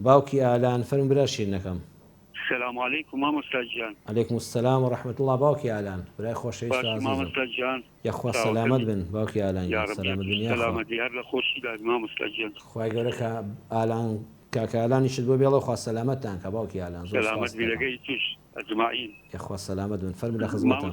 باوکی ئالان فەرمو برا شیرنەکەم. سلام علیکم مامۆستا گیان. علیکم السلام و رحمە اللە باوکی ئالان برای خۆشەویست و ئازیزم یەخوا سەلامەت بن باوکی ئالان گیان سەلامەت بن یاخوا. خوای گەورە کە ئالان کاکە ئالانیشت بۆ بێڵێ خوا سەلامەتتان کا باوکی ئالان زۆر سوپاستان. یەخوا سەلامەت بن فەرمو لە خزمەتم.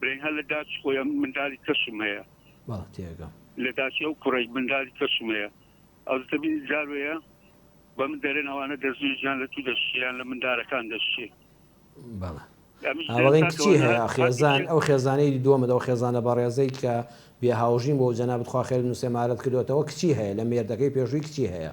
برینها لە داچ خۆیە مندالی کەسم هەیە. بەڵێ تێگەم. لە داچی ئەو کوڕەی مندالی کەسم هەیە ئەوز دەبینی جار وەیە بە من دەرێن ئەوانە دەزوی ژیان لە تو دەشیان لە مندارەکان دەشی. بەڵێ. ئاوەڵین کچی هەیە خێزان ئەو خێزانەی دووەمە دەو خێزانە بەڕێزەی کە بێ هاوژین بۆ جەنابت خوا خێر بنوسێ مارەت کردوەتەوە کچی هەیە لە مێردەکەی پێشووی کچی هەیە.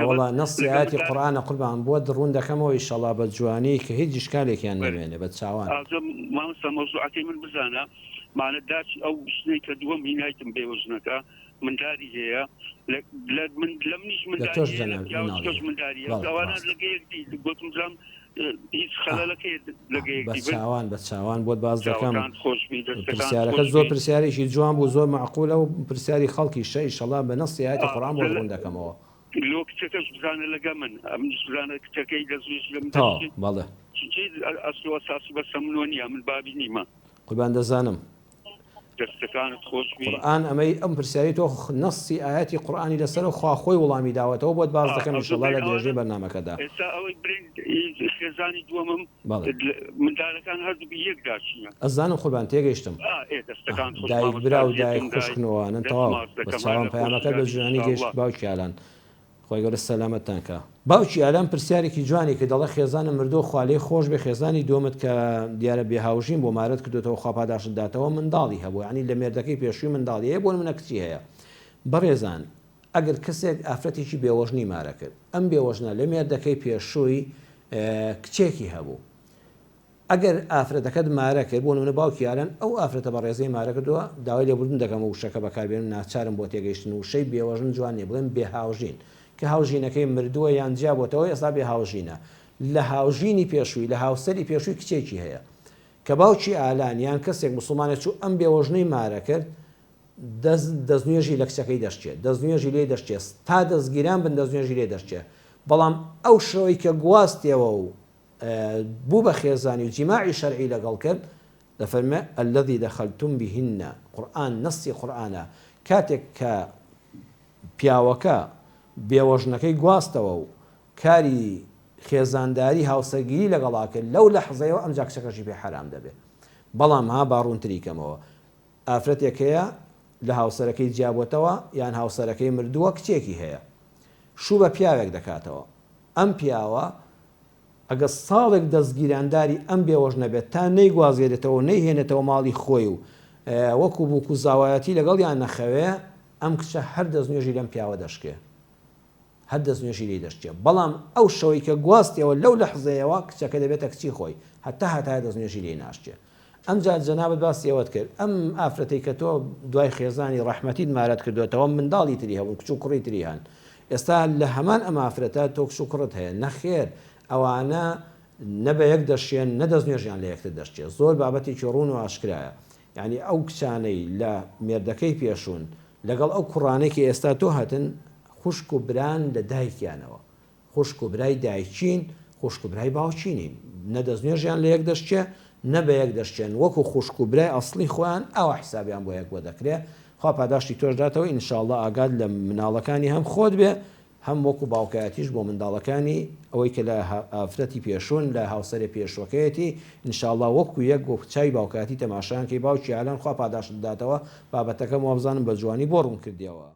نەوەڵا نەصی ئایەتی قورئانە قوربان بۆت ڕوون دەکەمەوە ئیشەڵا بە جوانی کە هیچ ئیشکالێکیان نەمێنێ بە چاوان. لە تۆش جەنابت مناڵی بەڵێ ڕاستە. چاوان بە چاوان بۆت باز دەکەم پرسیارەکە زۆر پرسیارێکی جوان بوو زۆر معقولە و پرسیاری خەڵکی شە ئیشەڵا بە نەسی ئاەتی قڕان بۆ ڕوون دەکەمەوە لۆ کچەکەش بزانە لەگە من ئەم بزانە کچەکەی دەزوش لەم بەڵێ ئەسلوە ساسی بەسە منۆ نیە من بابی نیمە قوربان دەزانم دەستەکانت خۆشبی. قورئان ئەمەی ئەم پرسیاری تۆ نەصی ئایەتی قورئانی لەسەرە خوا خۆی وڵامی داوەتەوە بۆت باس دەکەم ان شاءاللە لە درێژەی بەرنامەکەدا. ئێستا ئەوەی برین خێزانی دووەمم مندالەکان هەردووک یەک داچینە. ئەزانم قوربان تێگەشتم دایک برا و دایک خوشکنۆوانن تەواو بەس چاوان پەیامەکەت بە جوانی گەشت باوکی ئالان خوای گەورە سەلامەتتان کا. باوکی ئارام پرسیارێکی جوانی کرد دەڵێ خێزانم مردوە خوالێی خۆشبێ خێزانی دوەمت کە دیارە بێ هاوژین بوە مارەت کردۆتەوە خوا پاداشت داتەوە منداڵی هەبوە یانی لە مێردەکەی پێشوی منداڵی هەیە بۆ نمونە کچی هەیە بەڕێزان ئەگەر کەسێک ئافرەتێکی بێوەژنی مارە کرد ئەم بێوەژنە لە مێردەکەی پێشوی کچێکی هەبوو ئەگەر ئافرەتەکەت مارە کرد، بۆ نموونە باوکی ئالان، ئەو ئافرەتە بەڕێزەی مارە کردووە، داوای لێبوردن دەکەم ئەو وشەکە بەکاربێنم، ناچارم بۆ تێگەیشتن، وشەی بێوەژن جوان نییە، بڵێم بێهاوژین، کە هاوژینەکەی مردووە یان جیابۆتەوە ئێستا بێهاوژینە، لە هاوژینی پێشووی، لە هاوسەری پێشووی کچێکی هەیە. کە باوکی ئالان یان کەسێک موسڵمانێک چوو ئەم بێوەژنەی مارە کرد، دەست دەستنوێژی لە کچەکەی دەشکێ، دەستنوێژی لێ دەشکێ، تا دەستگیران بن دەستنوێژی لێ دەشکێ، بەڵام ئەو شەوەی کە گواستیەوە و بوو بە خێزانی و جیماعی شەرعی لەگەڵ کرد، دەفەرمێ، الذی دخلتم بهن، قورئان نەصی قورئانە، کاتێک کە پیاوەکە بێوەژنەکەی گواستەوە و کاری خێزانداری هاوسەرگیری لەگەڵا کرد لەو لەحزەیەوە ئەمجا کچەکەشی پێ حەرام دەبێ بەڵام ها با ڕوونتری کەمەوە ئافرەتێک هەیە لە هاوسەرەکەی جیابۆتەوە یان هاوسەرەکەی مردووە کچێکی هەیە شوو بە پیاوێک دەکاتەوە ئەم پیاوە ئەگە ساڵێک دەستگیرانداری ئەم بێوەش نەبێت تا نەیگوازێرێتەوە نەیهێنێتەوە ماڵی خۆی و وەکو بووک و زاوایەتی لەگەڵ یان نەخەوێ ئەم کچە هەر دەست نوێژی لەم پیاوە دەشکێ هەر دەستنوێژی لێ دەشکێ، بەڵام ئەو شەوەی کە گواستیەوە لەو لەحزەیەوە کچەکە دەبێتە کچی خۆی، هەتا هەتایە دەستنوێژی لێ ناشکێ. ئەمجا جەنابت باسی ئەوەت کرد، ئەم ئافرەتەی کە تۆ دوای خێزانی ڕەحمەتیت مارەت کردۆتەوە منداڵی تری هەبوون کچ و کوڕی تری هەن، ئێستا لە هەمان ئەم ئافرەتە تۆ کچ و کوڕت هەیە، نەخێر ئەوانە نە بە یەک دەشێن نە دەستنوێژیان لە یەکتر دەشکێ، زۆر بابەتێکی ڕوون و ئاشکرایە، یانی ئەو کچانەی لە مێردەکەی پێشوون لەگەڵ ئەو کوڕانەی کە ئێستا تۆ هەتن خوشک و بران لە دایکیانەوە خوشک و برای دایکین خوشک و برای باوکی نین نە دەستنوێژیان لە یەک دەشچێ نە بە یەک دەشچێن وەکو خوشک و برای ئەسڵی خۆیان ئاوا حسابیان بۆ یەک وەدەکرێ خوا پاداشتی تۆش داتەوە ان شاء اللە ئاگات لە مناڵەکانی هەم خۆت بێ هەم وەکو باوکایەتیش بۆ منداڵەکانی، ئەوەی کە لە ئافرەتی پێشوون، لە هاوسەرێ پێشووەکەیەتی، ان شاء اللە وەکو یەک وەکو چاوی باوکایەتی تەماشایان کەی، باوکی ئالان خوا پاداشت بداتەوە، بابەتەکەم وابزانم بە جوانی بۆ ڕوون کردیەوە.